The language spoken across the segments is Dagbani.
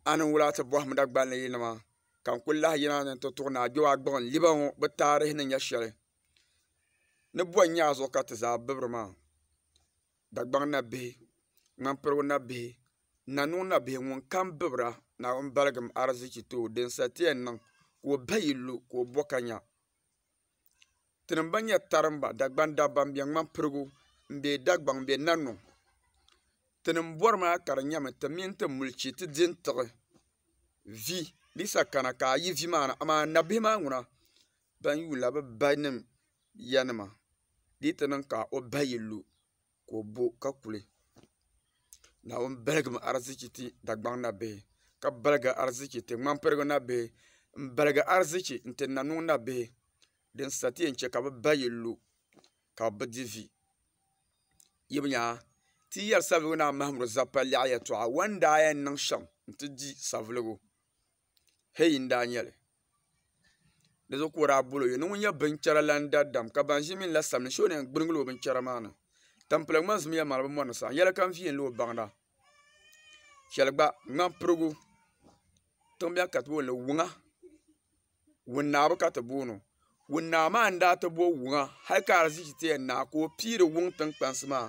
a ni wula ti bɔhim Dagbani yi nima ka n kuli lahi yina ni n ti tuɣi ni a gbiba gbuɣin liba ŋɔ bɛ taarihi ni nya shɛli ni bɔn nyɛ a zuɣu ka ti zaa bibiri maa Dagbaŋ nabihi ŋmampirigu nabihi Nannuŋ nabihi ŋun kam bibira Naawuni baligim ariziki ti o din sa ti yɛn niŋ ka o bahi yi lu ka o bo ka nya. Tinim ban nyɛ tarimba Dagban dabba n bɛ ŋmani pirigu n bɛ Dagbaŋ n bɛ naniŋ tinim bori maa ka di nyɛmi ti mini ti milichi ti di n tiɣi vi bisa kana ka a yi vi maa ni amaa nabihi maa ŋuna ban yuula bi ba nim ya nima di yi ti niŋ ka o ba yi lu ka o bo ka kuli. Naawuni baligimi arzichi ti Dagbaŋ nabihi ka baligi arzichi ti ŋmampirigu nabihi m-baligi arzichi n-ti Nanuŋ nabihi din sa ti yɛn chɛ ka bɛ ba yi lu ka bɛ di vi. Yaba nya! Ti yɛri Savelugu Naa Mahimudu Zappa lɛɣu yɛtɔɣa, Wani daa yɛn niŋ shɛm nti di Savelugu? hei n daa nyɛli di zuɣu ka o daa bol o yɛli ni ŋun nyɛ binchɛra lan daddam ka ban ʒi mini la sabigi so ni yɛn gbirigila o binchɛra maa ni tampilim ŋmani zumiya maa ni bi mɔri ni saɣam yɛli kam viɛlli o baŋda shɛli gba ŋmani pirigu tiŋ biɛni ka ti booni wuŋa wun naa bi ka ti booni o wun naa maa n daa ti bo wuŋa hali ka ariziki ti yɛn naai ka o piiri wuŋ tiŋ kpansi maa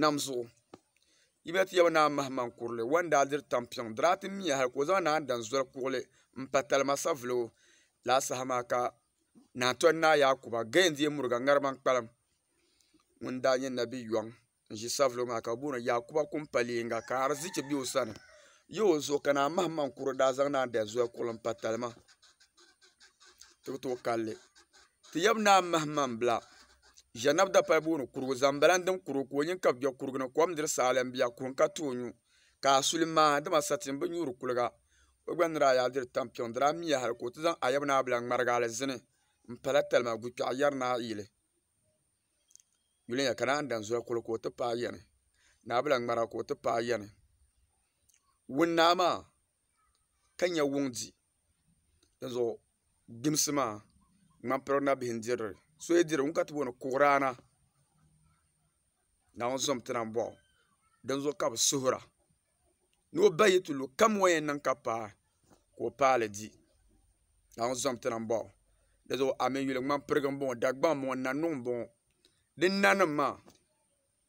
nam zuɣu yi lahi ti yaba ni a mahi maŋ kurili o yɛn daa diri tampiŋ diri a ti miya hali ka o zaŋ naan dan zoli kuɣili n pa talima savuligu laa saha maa ka naa toli ni Ayakuba gaya n-deei muriga ŋarima n-kpalim ŋun daa nyɛ nabi yɔŋ n-ʒi savuligu maa ka bɛ booni o Yakuba Kumpalienga ka arizichi be o sani yi o zuɣu ka naa mahi maŋ kurili daa zaŋ naan dan zoli kuɣili m-pa talima ti bi tooi kalli Ti yab naa m-mahimambila Ʒiɛnab Dapal booni Kurugu zaŋ bala n-dim Kurugu ka o nyin ka bɛ kpe Kurugu ni kom diri saalɛm bia kuhi n-ka ti o nyu. Ka a suli maai, dama sati m-bi nyuuri kuliga. O gba ni daa yaa diri tampiŋ, di daa miya hal ka o ti zaŋ a yab naa bila ŋmarigi alizini m-pala talima gukpɛɣu yɛri ni a yili yuli ni ya ka naan dan zoli kuli ka o ti paai yɛni. Naa bila ŋmara ka o ti paai yɛni. Wuŋ naa maa ka nya wuŋ di. dizuɣu gbimsi maa ŋmampirin na bihi n-diri li so yi diri li ŋun ka ti booni kuɣiraana Naawuni zom ti na m-bɔhi o dinzuɣu ka bɛ suhira ni o ba yi ti lu kam o ni yɛn niŋ ka paai ka o paali di Naawuni zom ti na m-bɔhi o dizuɣu a mi yuli ŋmampirigu m-bɔŋɔ Dagbaŋ m-bɔŋɔ Nannuŋ m-bɔŋɔ di nanima maa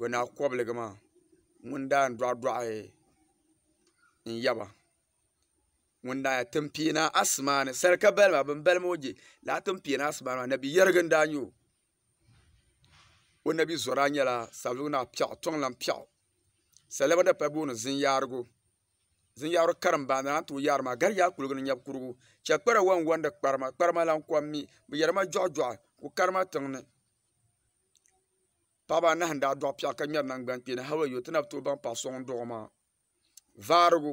to na kɔbiligi maa ŋun daa yɛn dɔɣi dɔɣi n yaba ŋun daa yɛn tiŋ pia asima ni saraka bali maa bini bali maa o gye lala tiŋ pia ni asima maa nabi yɛrigi n daa yɛ o o nabi zora yɛla sabilu ni piɛɣu tiŋ lahi piɛɣu saliba dapali ka booni zim yarigu zim yarigu karim baa ni a ni tooi yari maa gari yaa kuligi ni nyɛbi kurigu shɛba kpɛrila wani wani di kparima kparima lan kɔŋ mi bi yɛri ma jɔɣi jɔɣi ku karima tiŋ ni. Paɣaba anahi n daa dɔɣi piɛɣu ka ŋmɛri nangbani kpeeni hali wayo ti na bi tooi baŋ paɣa so ŋun dɔɣi o maa vaarigu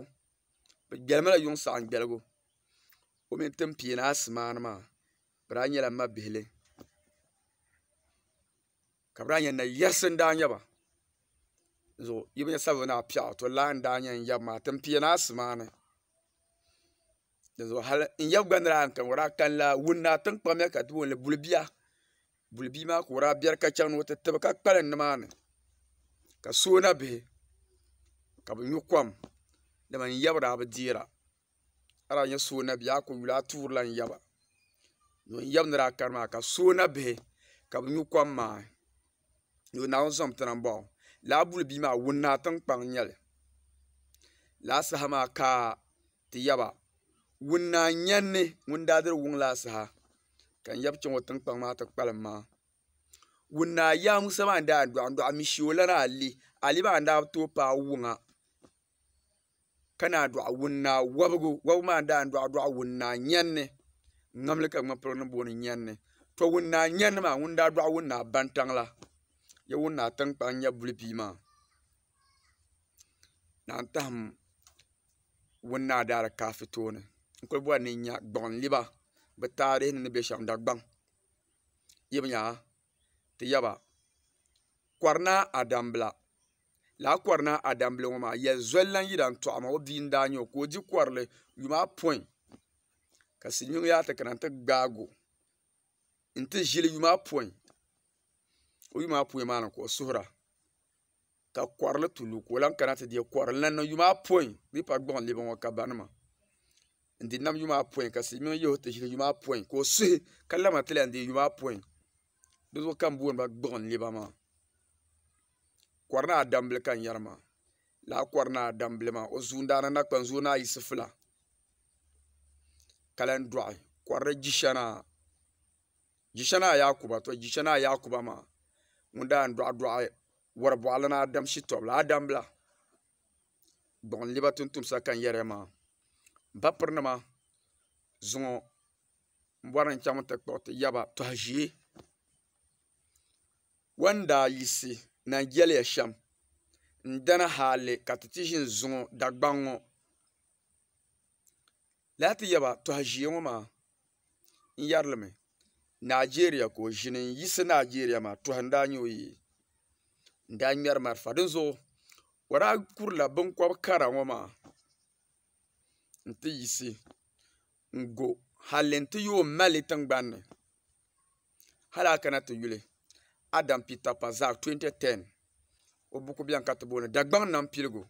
bi gbɛlimi la yuŋ saɣam gbɛligu o mii ni tin piini aasi maani maa bi daa nyɛla ma bihili ka bi daa nyɛ nayiɣisi n daa nyɛba zuɣu yi bi nyɛ sabbu ni a piɛɣu to lan n daa nyɛ n yaba maa tinpiɛni aasi maani dizuɣu hali n yaba gba ni daa yɛn kani ŋɔ daa kani la wuni ni atiŋ kpamiya ka tuuli ni buli bia buli bia maa ka o daa bɛri ka chaŋ ni o ti tibi ka kpalim ni maa ni ka soola bihi ka bi nyu kom dama n yaba daa bi dɛɛra a daa yɛ soona bihi a ku yuli a tuuri la n yaba n yaba ni daa kani maa ka soola bihi ka bi nyu kom maa. ni o naawuni zaŋ ti na m baŋɔ lala buli bia maa ŋuni naa tiŋ kpaŋ n nyɛli lala saha maa ka ti yaba ŋuni naa n nyɛnli ŋuni daa diri wuŋ lala saha ka n yaba chaŋ o tiŋkpaŋ maa ti kpalim maa ŋuni naa yaa Musa maa n daa yan dɔɣi dɔɣi mi shee o lana ale ale maa n daa bi tooi paai wuŋa. ka naan dɔɣi wuni naa wɔbigu wɔbigu maa daan dɔɣi dɔɣi wuni naa nyɛnni n ŋmanimi ka ŋma polo ni booni nyɛnni to wuni naa nyɛnni maa ŋuni daa dɔɣi wuni naa bantaŋ la ya wuni naa tinkpaŋ nyɛ buli pia maa naan tahim wuni naa daalikaafɛ tooni n kuli bɔri ni n nya gbuɣinliba bɛ taarihi ni ni be shɛm Dagbaŋ yibi nya ha ti yaba Kɔrinaa Adambila lala Kɔrinaa Adambila ŋɔ maa yɛli zoli lan yi dan tɔɣi ma o bia n-daa nyɛ o ka o di kɔrili yuma apɔin ka Silimiin yaa ti kana nti gbaag o nti ʒili yuma apɔin o yuma apɔin maa ni ka o suhira. ka kɔrili tu lu ka o lan kana ti deei kɔrili na ni niŋ yuma apɔin bee pari gbuɣin lɛbu ŋɔ ka barinima n-di nam yuma apɔin ka silimiŋ yihi o ti ʒili yuma apɔin ka o suhi ka labina ti lan deei yuma apɔin di zuɣu ka bɛ booni ba gbuɣin lɛba maa kɔri naa dambili ka n yɛri maa lala kɔri naa dambili maa o zuundaana nakpuni zuui ni ayi sifila ka lan dɔɣi kɔrili jishana Jishani Ayakuba, to Jishani Ayakuba maa ŋun daa n-dɔɣidɔɣi wari bɔɣili ni Adam Shitɔbila, Adambila, gbuɣinliba tuntumsa ka n-yɛri ya maa. M papirinima zuŋɔ m bɔri ni n chaŋmi ti kpuɣi ti yaba tɔha ʒee. Wan daa yiɣisi na n-jɛliya shɛm n-dana hali ka ti ti ʒini zuŋɔ Dagbaŋ ŋɔ. Lala ti yaba tɔha ʒiya ŋɔ maa n yɛri li mi naajeeriya ka o ʒini n yiɣisi naajeeriya maa tɔha n daa nyɛ o yi yɛli n daa ŋmɛri marafa di zuɣu o daa kuri la binkɔbi kara ŋɔ maa n ti yiɣisi n go halli n ti yooi mali tiŋgbani ni. Hal a kana ti yuli Adam Peter Parzak 2010 o buku bɛn ka ti booni Dagbaŋ Nam Piligu,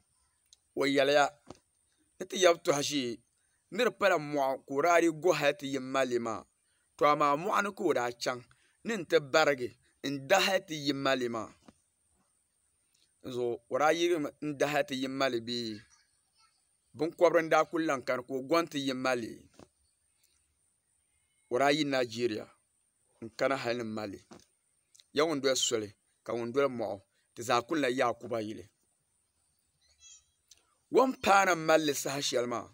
o yɛliya ni ti yab tɔha ʒiɛ ni di pala mɔɣu ka o daa dii go hal ti yim ma li maa. Tɔ amaa mɔɣu ni ka o daa chaŋ ni n-ti barigi n-da hal ti yim ma li maa. Dinzuɣu o daa yirigimi n-da hal ti yim ma li bee? Biŋkɔbiri n-daa kul lan kani ka o go n-ti yim ma li? o daa yi Nigeria n-kana hal ni Mali. Ya ŋun doli soli, ka ŋun doli mɔɣu, ti zaa kul na Yaakuba yili. Wampaana mali li saha shɛli maa,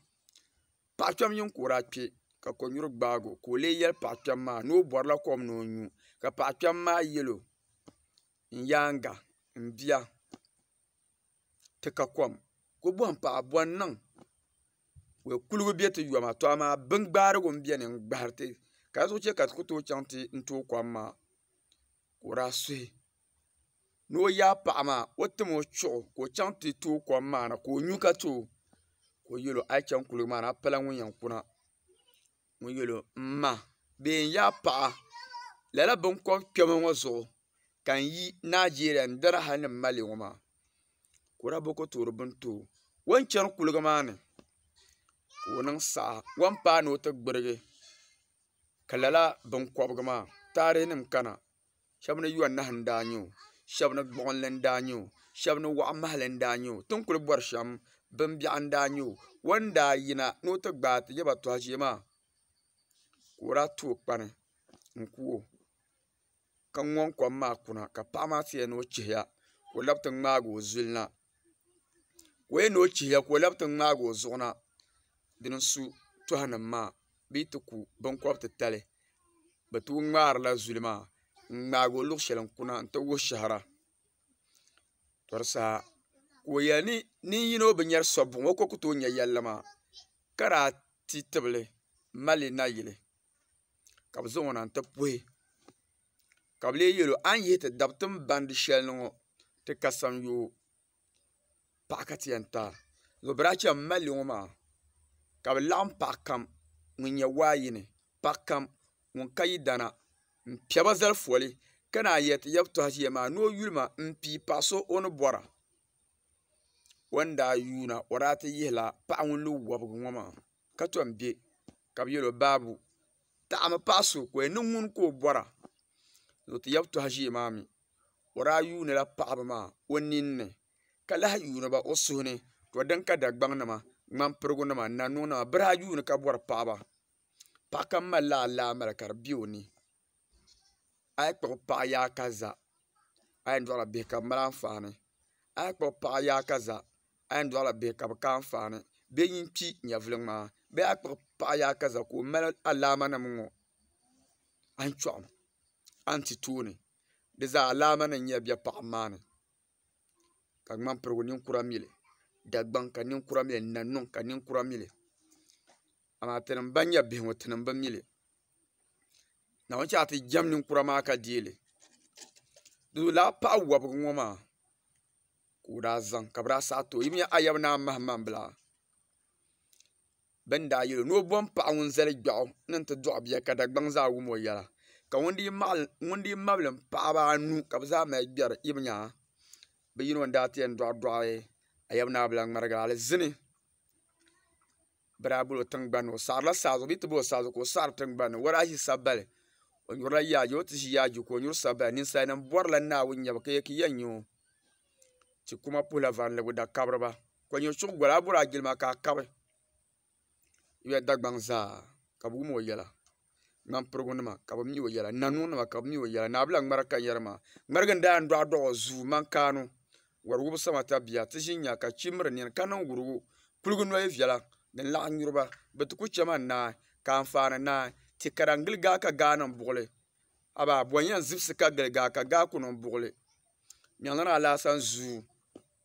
paɣ kpɛm yini ka o daa kpe, ka kɔnyuri gbaag o ka o leei yɛli paɣ kpɛm maa ni o bɔrila kom ni o nyu, ka paɣ kpɛm maa yɛl o, N yaaŋa, m bia! ti ka kom ko bohim paɣa bɔ n-niŋ ka kuliga be ti yoma to amaa bin gbaarigu m-beni n-gbahiri ti ka di zuɣu che ka ti ku tooi chaŋ ti tooi kom maa ka o daa suhi ni o yaai paɣa maa o tim o chuɣu ka o chaŋ ti tooi kom maa na ka o nyu ka ti o ka o yel o a yi chaŋ kuliga maa ni a pala ŋun yɛn kuna ŋɔ yɛli o m ma bɛ yɛn yaai paɣa lala binkɔbi kpɛma ŋɔ zuɣu ka n yi Nigeria n doli hali ni m ma li ŋɔ maa ka o daa boi ka o toori bini too o ni chani kuliga maa ni ka o niŋ saha o ni paai ni o ti gbirigi ka lala binkɔbiga maa taarihinim kana shɛba ni yɔnahu n-daa nyɛ o shɛba ni gbuɣinli n-daa nyɛ o shɛba ni wɔɣ'mahili n-daa nyɛ o ti ni kuli bɔri shɛm bimbiɛɣu n-daa nyɛ o o ni daa yina ni o ti gbaai ti yaba tɔha ʒee maa ka o daa tooi kpani n-ku o ka ŋɔŋ kom maa kuna ka paɣa maa ti yɛli ni o chihiya ka o labi ti ŋmaagi o zuli na ka o yɛn ni o chihira ka o labi ti ŋmaagi o zuɣu na din n su toha nim maa bee ti ku binkɔbi titali bi tooi ŋmaarila zuli maa n ŋmaagi o luɣu shɛli n kuna n ti wuhi shɛhira tɔri saha ka o yɛli ni nin yino bi nyɛri sɔb buɣum o ni ku tooi nyɛ yɛlli maa ka daa ti tibili mali nayili ka bi zaŋ o na n ti puhi ka bi lee yɛli o a ni yihi ti dabi tiŋ bandi shɛli ni ŋɔ ti kasaŋ yoo paɣa ka ti yɛn taai ŋɔ biraai chɛn n malli ŋɔ maa ka bi laɣam paɣa kam ŋun nyɛ waa yini paɣa kam ŋun ka yi dana n piɛba zali foli ka naan yɛ ti yab tɔha ʒiya maa ni o yuli ma n pii paɣa so o ni bɔra o ni daa yuuna o daa ti yihila paɣa ŋun lo wobigi ŋɔ maa ka tom bɛ ka bi yɛlo baabu taɣa mi paɣa so ka o yɛn niŋ ŋuni ka o bɔra ni o ti yaba tɔha ʒiɛ maa mi o daa yuuni la paɣaba maa o nin ni ka lahi yuuni ba o suhu ni to din ka Dagbaŋ nima ŋmanpirigu nima Nanuu nima bi daa yuuni ka bɔri paɣaba paɣa kam mali la alaamali ka di bɛ o ni. a yi kpuɣi paɣa yaɣa ka za a yɛn dɔɣila bihi ka bi mali anfaani a yi kpuɣi paɣa yaɣa ka za a yɛn dɔɣila bihi ka bi ka anfaani bihi nyin kpi nyɛvuli ŋmaa bee a yi kpuɣi paɣa yaɣa ka za ka o mali alaama nim ŋɔ a ni chuɣu a ni ti tooni di zaa alaama nim n-nyɛ biɛ paɣam maa ni ka ŋmani pirigu ninkura mi li Dagbaŋ ka ninkura mi li Nannuŋ ka ninkura mi li Amaa tinim bɛn nyɛ bihi ŋɔ, tinim bi mi li. Naawuni chɛ ka ti jɛm ninkura maa ka deei li. Di zuyu lala paɣ wɔbigu ŋɔ maa ka o daa zaŋ ka bɛ daa saɣ ti o. Yi mi nya Ayaba Naa Mahamambila bɛ ni daa yɛl o ni o bom paɣ ŋun zali gbiɛɣu ni nti dɔɣi bia ka Dagbaŋ zaa wum o yɛla ka ŋun dii mabilim paɣiba anu ka bɛ zaa mali gbɛri. Yi bi nya bɛ yino n-daa ti yɛn dɔɣidɔɣi Ayaba Naa Abulaŋmarigi alizini. biraabuli o tiŋgbani o saɣarila saazuɣu bee ti bo saazuɣu ka o saɣari tiŋgbani o daa ʒi sabbali o nyurila yaajɛ o ni ti ʒi yaajɛ ka o nyuri sabbali ninsal nim borila naawuni nyɛbu ka yɛ ki yɛn nyo ti kuma puhula varindigu da kabiriba ka nyɛ chuɣu goli a bori a jilima ka a kabi yuya dagbaŋ zaa ka bi wum o yɛla ŋmampirigu nima ka bi mi o yɛla nanuwa nima ka bi mi o yɛla naabila ŋmara ka n yɛri maa ŋmarigi n daa yɛn dɔɣi dɔɣi o zuu n mani kaanu wari wubi sama ta bia ti ʒi n nya ka kpii miri nini ka niŋ wurugu kuliga noli viɛla din laɣim nyuriba bi ti ku chɛma ni naai ka anfaani naai ti kara n gili gaa ka gaa niŋ buɣuli amaa bɔn yɛn zibisi ka gili gaa ka gaa ku niŋ buɣuli nyɛlini alaasa n zuu.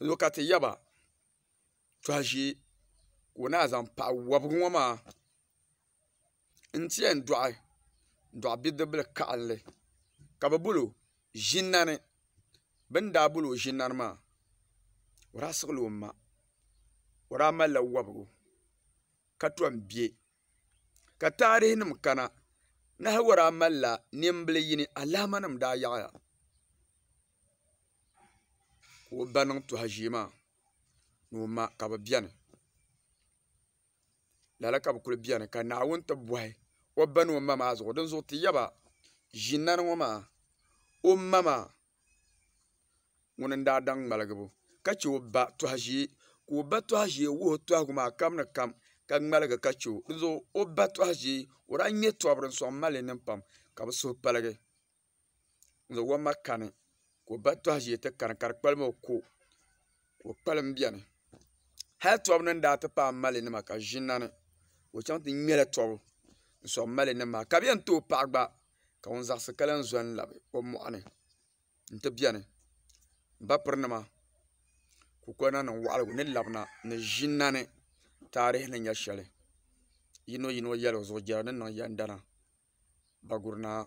n ŋɔ ka ti yaba tuha ʒee ka o naanyi zaŋ paɣa wɔbigu ŋɔ maa n ti yɛn dɔɣi dɔɣi bidibila karili ka bi bolo ʒinna ni bi ni daa bolo ʒinna ni maa o daa siɣila o ma o daa mali la wɔbigu ka tɔm bɛ. ka taarihi nim kana Nahawara malila nimbili yini alaama nim daa yaɣaya ka o ba niŋ tuha ʒiɛ maa ni o ma ka bi biɛni lala ka bi kuli biɛni ka Naawuni ti bohi o ba ni o ma maa zuɣu dinzuɣu ti yaba ʒi nani ŋɔ maa o ma maa ŋuni n-daa daŋ ŋmaligibu ka che o ba tɔha ʒee ka o ba tɔha ʒee wuhi o tɔhigu maa kam ni kam ka ŋmaligi ka che o di zuɣu o ba tɔha ʒee o daa ŋme tɔbu din sɔŋ m-mali li niŋ pam ka bɛ suhu paligi n-zaŋ o ma kani ka o ba tɔha ʒee ti kani ka di kpalimi o ko. ka o kpalim biɛni hali tɔbu ni ni daa ti paai mali nima ka ʒinna ni ka o chaŋ ti ŋmɛla tɔbu n soŋ mali nim maa ka bi yɛn too paɣa gba ka ŋun zaɣisi ka lahi zo n labi o mɔɣuni n ti biɛni n ba piri nima ka o kuli niŋ niŋ waɣila ni labina ni ʒinna ni taarihi ni nyɛ shɛli yino yino yɛli o zuɣu jɛra ni niŋ yɛndana Daguli naa.